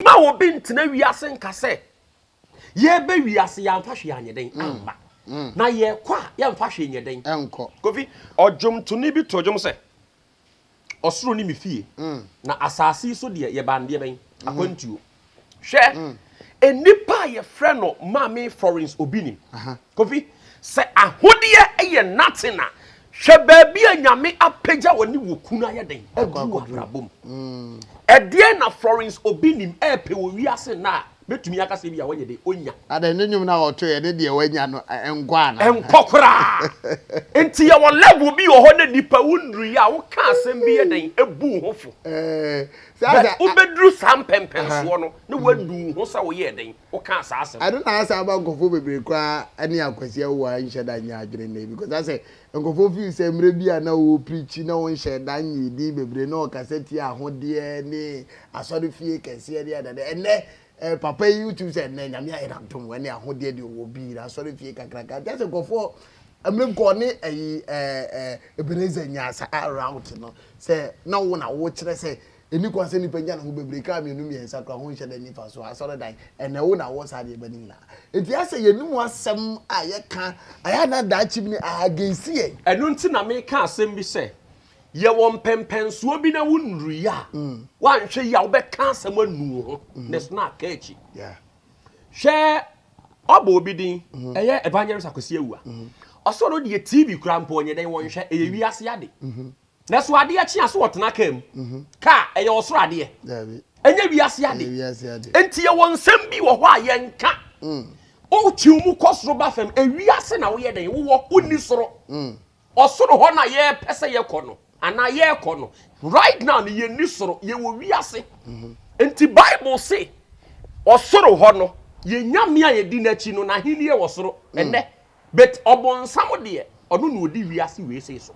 na obi ntena wiase nka sɛ yɛbɛ wiase yɛamfa hwee anyɛ dɛn mm. amma mm. na yɛkɔ a yɛmfa hwee nyɛ dɛn kofi ɔdwomtoni bi to dwom sɛ Ɔsoro ne me fie, na asase yi so deɛ yɛbaa no deɛ bɛn? Akwantuo. Hwɛ, nnipa a yɛfrɛ no Maame Florence obi nim. Kofi, sɛ ahodeɛ yɛ nothing a, hwɛ baabi a Nyame apagya wɔ ne wɔ kunu ayɛ dɛn? Aduru wɔ abrabɔ mu. Ɛdeɛn na Florence obi nim ɛɛpɛ wɔ wiase nnɛ a Mɛtumi aka sɛ ebia wɔnyɛ dɛ, ɔnya. Adɛn, ne nnwom no a ɔtoeɛ, ɛne deɛ wanya no nkɔ anaa? Ɛnkɔ koraa! Enti yɛwɔ level bi wɔ hɔ na nnipa, wo nnuruiɛ a, wo ka asɛm bi yɛ dɛn, ɛbu wo ho fo. But wo bɛduru saa mpɛmpɛnsoɔ no, na woanu wo ho sɛ wo yɛɛ dɛn, wo kaa saa asɛm no. Ɛno na asɛ ama nkurɔfoɔ bebree koraa ne akwasia wu a nhyɛ da nyɛ adwene nnɛ yi, because asɛ Nkurɔfoɔ feel sɛ mmerɛ bi a na ɔrepreachi na ɔnhyɛɛ da nyee din bebree na ɔkasa tiaa ahodeɛ ne asɔrefie kɛseɛ ne adeade. Ɛnnɛ papa yi wotumi sɛ ɛnnɛ Nyame ayɛ no adom ɛne ahodeɛ deɛ ɔwɔ bi na asɔrefie kakraka nti asɛ nkurɔfoɔ mmerɛ bi kɔ ɔne ɛyi Ebenezer nyaa saa route no sɛ na wo na wokyerɛ sɛ Enni kwan sɛ nnipa nya ne ho bebree kra mmienu mmiɛnsa koraa ho nhyɛ da nni mfaso. Asɔredan, ɛna ɛwo na awɔ saa nneɛma no nyinaa. Enti ayɛ sɛ yɛn mu asɛm a yɛka, ayɛ a na daakye bi no aha against yɛn. Ɛno nti na meka asɛm bi sɛ, yɛwɔ mpɛnpɛnsoɔ bi na wonnuruiɛ a, woanhwɛ yie a wobɛka asɛm anu wo ho na ɛsono aka akyi. Hwɛ wɔabɔ obi din, ɛyɛ Evangelist Akwasi Awuah, ɔse ɔno deɛ TV koraa mpo ɔnyɛ dɛn, ɔnhwɛ, ɛyɛ wiase ade. Nanso adeɛ kye a, so wɔtena kaa mu? Kaa, ɛyɛ ɔsoro adeɛ. Ɛnyɛ wiase ade. Enti yɛwɔ nsɛm bi wɔ hɔ a yɛnka. Wotew mu kɔ soro ba fam, ewiase na woyɛ dɛn? Wowɔ, wonni soro. Ɔsoro hɔ na yɛpɛ sɛ yɛkɔ no, anaa yɛrekɔ no. Right now no, yenni soro, yɛwɔ wiase. Enti Bible se, ɔsoro hɔ no, yɛn Nyame a yɛdi n'akyi no, n'ahenni wɔ soro. Ɛnnɛ, but ɔbonsam deɛ ɔno na ɔdi wiase wei sei so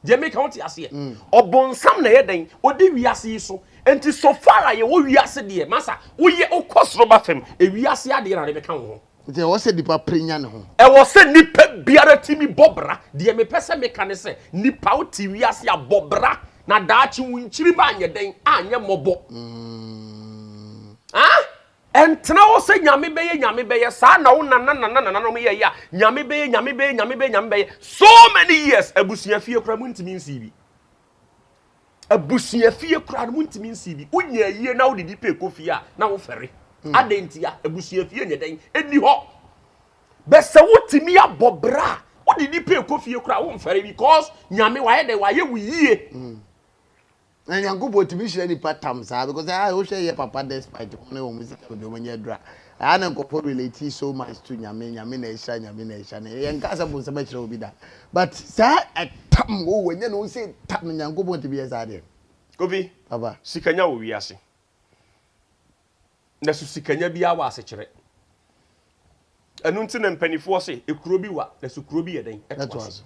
deɛ meka wote aseɛ ɔbonsam na ɛyɛ dɛn ɔdi wiase yi so nti so far a yɛwɔ wiase deɛ masa woyɛ wokɔ soro ba fam ewiase adeɛ na de bɛka wo ho nti ɛwɔ sɛ nipa pere nya ne ho ɛwɔ sɛ nipa biara tumi bɔ bra deɛ mepɛ sɛ meka ne sɛ nipa wo te wiase a bɔ bra na daakye wo nkyiri ba anyɛ dɛn anyɛ mmɔbɔ mm. ah? Ɛntena hɔ sɛ Nyame bɛyɛ, Nyame bɛyɛ, saa na wo nanananananom yɛeɛ a, Nyame bɛyɛ, Nyame bɛyɛ, Nyame bɛyɛ, Nyame bɛyɛ, so many years, abusua fie koraa montumi nsii bi. Abusua fie koraa no montumi nsii bi. Wonya ayie na wodidi pɛ kɔ fie a, na wofɛre. Hmm. Adɛn ntia? Abusua fie nyɛ dɛn? Ɛni hɔ. Bɛ sɛ wotumi abɔ bra a, wodidi pɛ kɔ fie koraa womfɛre because Nyame wayɛ dɛn? Wayɛ wo yie. Hmm. Na Nyankopɔn tumi hyira nipa tam saa because ah wo hwɛ yɛ papa despite wɔn ne wɔn sika baabi wɔn anya aduru a ɛha na nkɔfo relate so much to nyame nyame na ɛhyira nyame na ɛhyira na yɛn kaa sɛ bonsam akyerɛ obi da but saa ɛtam o oh, wɔnyɛ ne ho sɛ tam Nyankopɔn tumi yɛ saa deɛ. Kofi, Papa. sika nya wɔ wiase. na so sikanya biara wɔ asekyerɛ. Ɛno nti na mpanimfoɔ se, ekuro bi wa, na so kuro bi yɛ dɛn? Ɛto ase.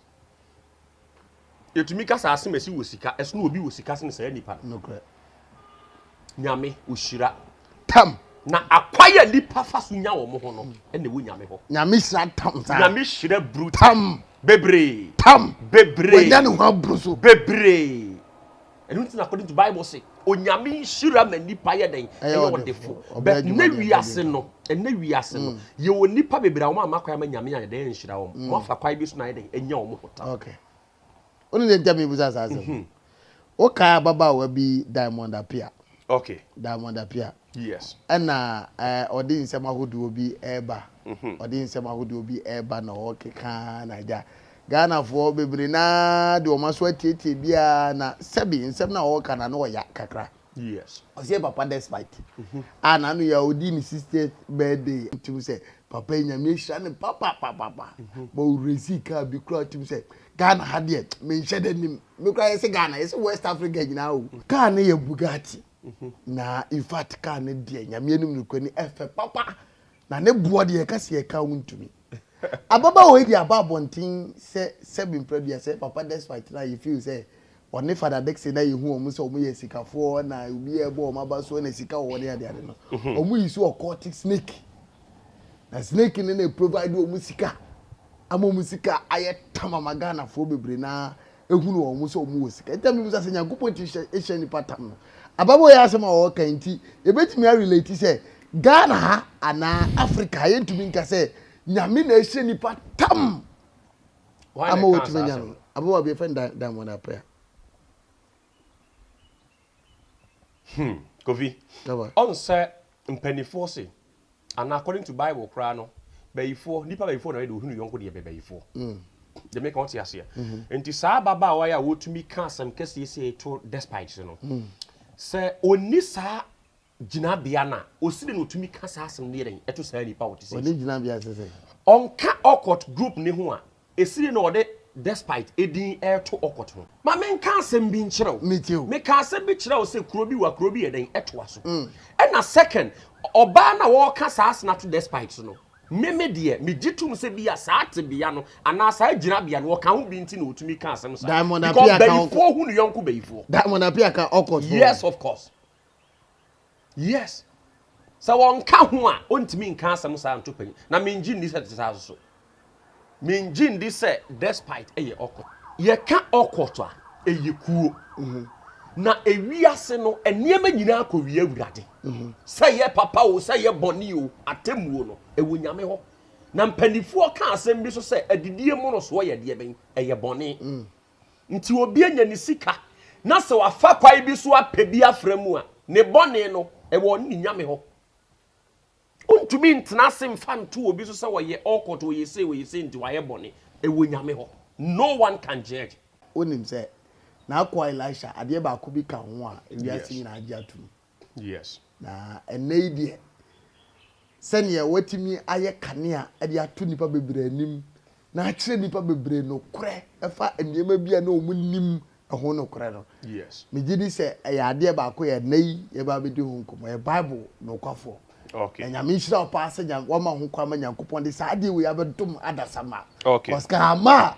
Yɛtumi ka saa se mɛsi wɔ sika, ɛso na obi wɔ sika sene saa nipa no. Nokorɛ. Nyame, ɔhyira. Tam. Na akwan a nipa fa so nya wɔn ho no, ɛna ɛwɔ Nyame hɔ. Nyame hyira tam saa. Nyame hyira bru tam. Bebree. Tam. Bebree. Wanya ne ho abru so. Bebree. ɛno nti na according to bible se onyame nhyira ma nipa yɛ dɛn ɛyɛ ɔdefo but na wiase no ɛna wiase no mm. yɛwɔ nipa bebree a wɔn ama kwan ma nyame ayɛ dɛn nhyira wɔn mm. wɔn afa kwan bi so na ayɛ dɛn ɛnya wɔn ho ta. okay ɔno ne ntɛm ibusa saa asɛm mhm. wokae ababaawa bi diamond apia Okay. Diamond Apia. Yes. Ɛna ɛɛ eh, ɔde nsɛm ahodoɔ bi ɛreba. Mhm. Ɔde nsɛm ahodoɔ bi ɛreba na ɔkeka na agya. Ghanafoɔ bebree naa de wɔn aso atietie biara na sɛbi nsɛm na ɔreka na no ɔya kakra. Yes. Ɔsɛ papa despite. Mhm. A na no yɛ ɔdi ne 60th birthday. Tum sɛ papa nyame ehyira ne papa papa papa. Mhm. Bɔ ɔresi kaa bi kura tum sɛ Ghana ha deɛ menhyɛ da nim me koraa yɛsɛ Ghana yɛsɛ West Africa nyinaa o. Car no yɛ Bugatti na infact car no deɛ nyame anim nokorɛ ni ɛfɛ papa na ne boɔ deɛ yɛka sɛ yɛka wo ntumi. Ababaawa yi deɛ aba abɔnten sɛ sɛbe mprɛ aduasa yi papa despite no a yɛ feel sɛ Ɔne Father Dickson na yɛhu wɔn sɛ wɔyɛ asikafoɔ na obiara ɛbɔ wɔn aba so na sika wɔ hɔ ne adeade no. Wɔn yi so occultic snake. Na snake no na ɛprovide wɔn sika ama wɔn sika ayɛ tam ama Ghanafoɔ bebree na ɛhunu wɔn sɛ wɔn wɔ sika. Nti na mebusa sɛ Nyankopɔn ti hyɛ nipa tam no. Ababɔ yɛ asɛm a ɔɔka yi nti yɛbɛtumi a relate sɛ Ghana ha anaa Africa ha yɛntumi nka sɛ Nyame na ɛhyɛ nipa tam. ama watumi anya no. Ababaawa bi a yɛfrɛ no Diamond Appiah. Hmm, Kofi, ɔn sɛ mpanimfoɔ se, anaa according to Bible koraa no, bayifoɔ, nnipa bayifoɔ na ɔyɛ deɛ ɔhunu yɔnko deɛ bayifoɔ. Mm. Deɛ meka ɔte aseɛ. Mm-hmm. Nti saa ababaawa yi a wɔtumi ka asɛm kɛseɛ sɛ to despite no, mm. sɛ ɔnni saa gyinabea no a, osi dɛn na otumi ka saa asɛm no yɛ dɛn to saa nipa a ɔte sɛɛ so? Ɔne gyinabea te sɛn? Ɔnka Okot group no ho a, esi dɛn na ɔde despite din reto Okot ho? Ma menka asɛm bi nkyerɛ wo. Metie o. Meka asɛm bi kyerɛ wo sɛ kuro bi wa, kuro bi yɛ dɛn toa so. Ɛna second, ɔbaa no a wɔreka saa asɛm no ato despite so no, me me deɛ, megye tom sɛ bi a saa tebea no anaa saa gyinabea no ɔka ho bi nti na otumi ka asɛm saa. Diamond Apia ka Okot. Because bayifoɔ hu ne yɔnko bayifoɔ. Diamond Apia ka Okot ho. Yes of course. Yes. Sɛ wɔnka ho a, ontumi nka asɛm saa nto panyin. Na mengye nni sɛ ɛte saa nso so. Mengye nni sɛ despite ɛyɛ awkward. Yɛka awkward a, ɛyɛ kuo. Mm-hmm. Na ewiase no, nneɛma nyinaa kɔwie Awurade. Mm-hmm. Sɛ yɛ papa o, sɛ yɛ bɔne o, atemmuo no, ɛwɔ Nyame hɔ. Na mpanimfoɔ ka asɛm bi so sɛ, adidie mmorosoɔ yɛ deɛ bɛn? Ɛyɛ bɔne. Mm. Nti obi anya ne sika na sɛ wafa kwan bi so apɛ bi afra mu a, ne bɔne no, ɛwɔ ɔne ne Nyame hɔ. Ontumi ntena ase mfa nto obi so sɛ ɔyɛ awkward, ɔyɛ sei, ɔyɛ sei nti wayɛ bɔne. Ɛwɔ Nyame hɔ. No one can judge. Wonim sɛ, n'akoa Elisha, adeɛ baako bi ka ho a wiase nyinaa gye atom. Yes. Na ɛnnɛ yi deɛ, sɛdeɛ wɔatumi ayɛ kanea de ato nnipa bebree anim na akyerɛ nnipa bebree nokorɛ ɛfa nneɛma bi a na wɔn nnim ɛho nokorɛ no, Yes. megye di sɛ ɛyɛ adeɛ baako a ɛnnɛ yi yɛbɛba abɛdi ho nkɔmmɔ, ɛyɛ Bible nokwafoɔ. Okay. Na nyame nhyira wo paa sɛ nyame wama ho kwa ma nyankopɔn de saa adeɛ wei abɛdom adasa ma. Okay. Kɔs ka ama a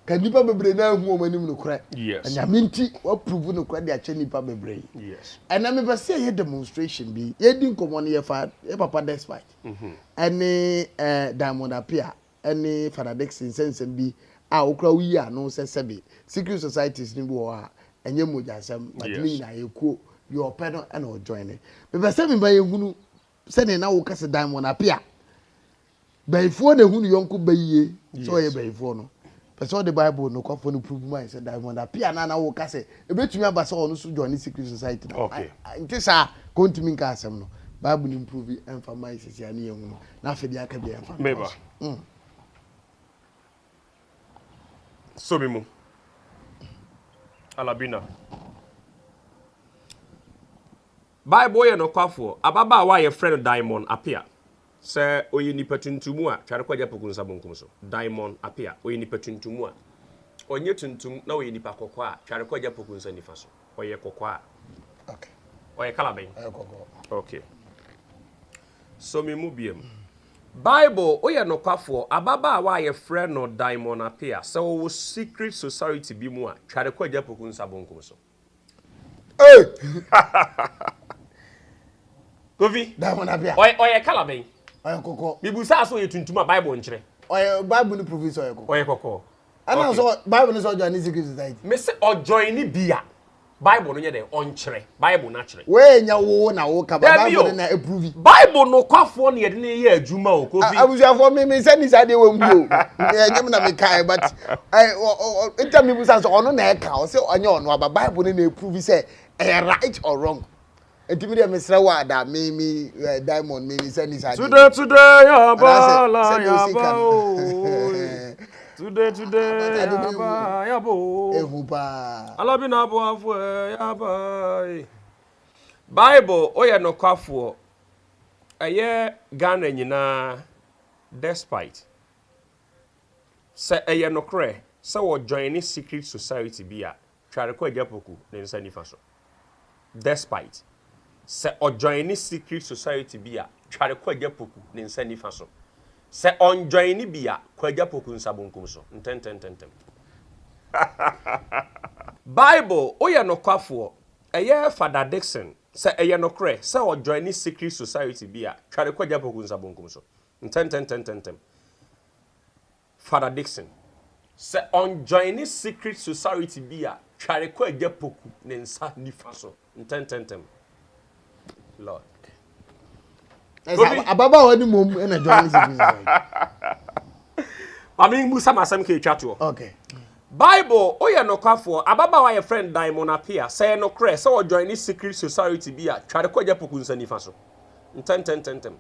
ka nnipa bebree na ahu wɔn anim nokorɛ. Yes. Na nyame nti wapuruvu nokorɛ de akyɛ nnipa bebree. Yes. Ɛnna mepɛ sɛ yɛyɛ demonstration bi. Yɛdi nkɔmmɔ no yɛfa yɛ papa despite. Mhm. Ɛne ɛɛ Diamond Apia. ne Fada Dickson nsɛmnsɛm bi a wo koraa woyii ano sɛ sɛbe secret societies no bi wɔ hɔ a ɛnyɛ mogyasɛm but ne nyinaa ɛyɛ kuo, deɛ ɔpɛ no na ɔ joine. Mepɛ sɛ mema yɛhunu sɛdeɛ na woka sɛ Diamond Apia bayifoɔ na ɛhu ne yɔnko ba yie sɛ ɔyɛ bayifoɔ no, pɛ sɛ ɔde Bible nokwafoɔ no prove ma yɛn sɛ Diamond Apia no a na woka sɛ ɛbɛtumi aba sɛ ɔno nso joine secret society no, ɛnte saa? Ka ɔntumi nka asɛm no, Bible no mprove ɛmfa mma yɛn seesei a ne yɛhunu. na afei deɛ aka biara mfa meba mm. so me mu alabina bible yɛ nokwafoɔ ababaawa a yɛfrɛ no diamond apea sɛ ɔyɛ nipa tuntum a tware kɔgya poku nsa bonkum so diamond apea ɔyɛ nipa tuntum a ɔnyɛ tuntum na ɔyɛ nipa kɔkɔɔ a tware kɔgya poku nsa nifa so ɔyɛ kɔkɔɔ a ɔyɛ kala bɛn okay so me mu biam bible woyɛ nokwafoɔ ababaawa a yɛfrɛ no diamond apea sɛ wɔwɔ secret society bi mu a tware kɔ agya poku nsa bonkum so hey! kofi diamond apea ɔyɛ kala bɛn ɔyɛ kɔkɔɔ bibu saa so ɔyɛ tuntum a bible nkyerɛ ɔyɛ bible no profi sɛ ɔyɛ kɔkɔɔ ɔyɛ kɔkɔɔ ɛna nso bible no sɛ ɔjoin ne secret society me se ɔjoin ne bi a bible no nyɛ dɛ ɔnkyerɛ bible no akyerɛ woanya wo na wo ka bible no na ɛprovi bible no kwafoɔ ne yɛde ne yɛ adwuma o kofi abusuafoɔ me me sɛ ne saa deɛ wɔnhu o ɛnyɛ me na mekae but ntam ne busa sɛ ɔno na ɛka ɔsɛ ɔnyɛ ɔno aba bible no na ɛprovi sɛ ɛyɛ right or wrong Enti me deɛ mesrɛ wo a da me me eh, diamond me me sɛ ni saa deɛ. Today today yaba la yaba ooo. Today today yaba yaba ooo. Ehu paa. Alabi na aboafo ɛ eh, yaba ee. Eh. Bible oyɛ nokwafoɔ ɛyɛ Ghana nyinaa despite sɛ ɛyɛ nokorɛ sɛ wɔjoin ne secret society bi a. Tware kɔ Agya Poku ne nsa nifa so. Despite, Sɛ ɔjoine secret society bi a, tware kɔ Agya Poku ne nsa nifa so. Sɛ ɔnjoine bi a, kɔ Agya Poku nsa bonkum so, ntɛntɛntɛntɛm. Bible, Woyɛ nokwafoɔ. Ɛyɛ Fada Dickson, Sɛ ɛyɛ nokorɛ sɛ ɔjoine secret society bi a, tware kɔ Agya Poku nsa bonkum so, ntɛntɛntɛntɛntɛm. Father Dickson sɛ ɔnjoine secret society bi a tware kɔ Agya Poku ne nsa nifa so ntɛntɛntɛm. Lord. Ɛsɛ ababaawa ni mom ɛna joine secret society. Maame mu sa masɛm ka etwa toɔ. Okay. Bible oyɛ nokwafoɔ ababaawa yɛ friend Diamond Apia sɛ yɛ nokorɛ sɛ ɔjoine secret society bi a tware kɔ Agya Poku nsa nifa so ntɛntɛntɛntɛm.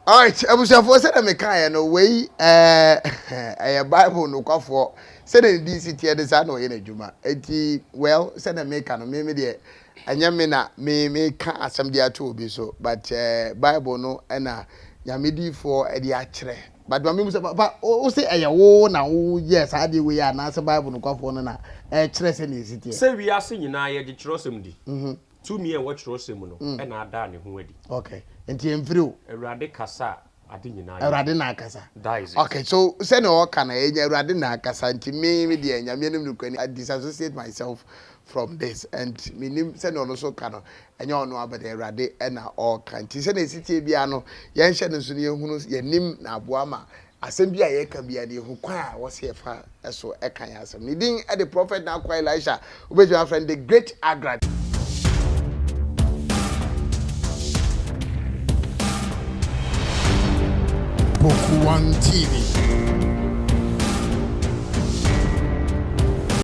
Alright, abusuafoɔ sɛdeɛ mekaeɛ no wei ɛyɛ Bible nokwafoɔ sɛdeɛ ne din si teɛ de saa na ɔyɛ n'adwuma eti well sɛdeɛ meka no meme deɛ ɛnyɛ me na me meka asɛm de ato obi so but ɛɛ Bible no ɛna nyame diifoɔ ɛde akyerɛ but ma memu sɛ papa wo se ɛyɛ wo na wo yɛ saa deɛ wei anaasɛ Bible nokwafoɔ no na ɛkyerɛ sɛdeɛ esi teɛ. Sɛ wiase nyinaa yɛgye twerɛsɛm di, Tumi a ɛwɔ Kyerɛwsɛm mu no na adaa ne ho adi. Okay. Nti ɛmfiri o. Awurade kasa a ade nyinaa yɛ. Awurade na akasa. That is it. Okay, so sɛnea ɔka no ɛnyɛ Awurade na akasa nti me me deɛ Nyame anim nokorɛ ni I disassociate myself from this and menim sɛnea ɔno nso ka no ɛnyɛ ɔno ara but Awurade na ɔreka nti sɛnea ɛsi teɛ biara no yɛnhyɛ no nso na yɛhunu yɛnim na aboa ma Asɛm biara a yɛka biara deɛ hokwan a wɔse yɛfa so ka yɛn asɛm. Ne din de Prɔfɛt N'Akoa Elisha. Wobɛtumi afrɛ no The Great Agrad. Boku One TV.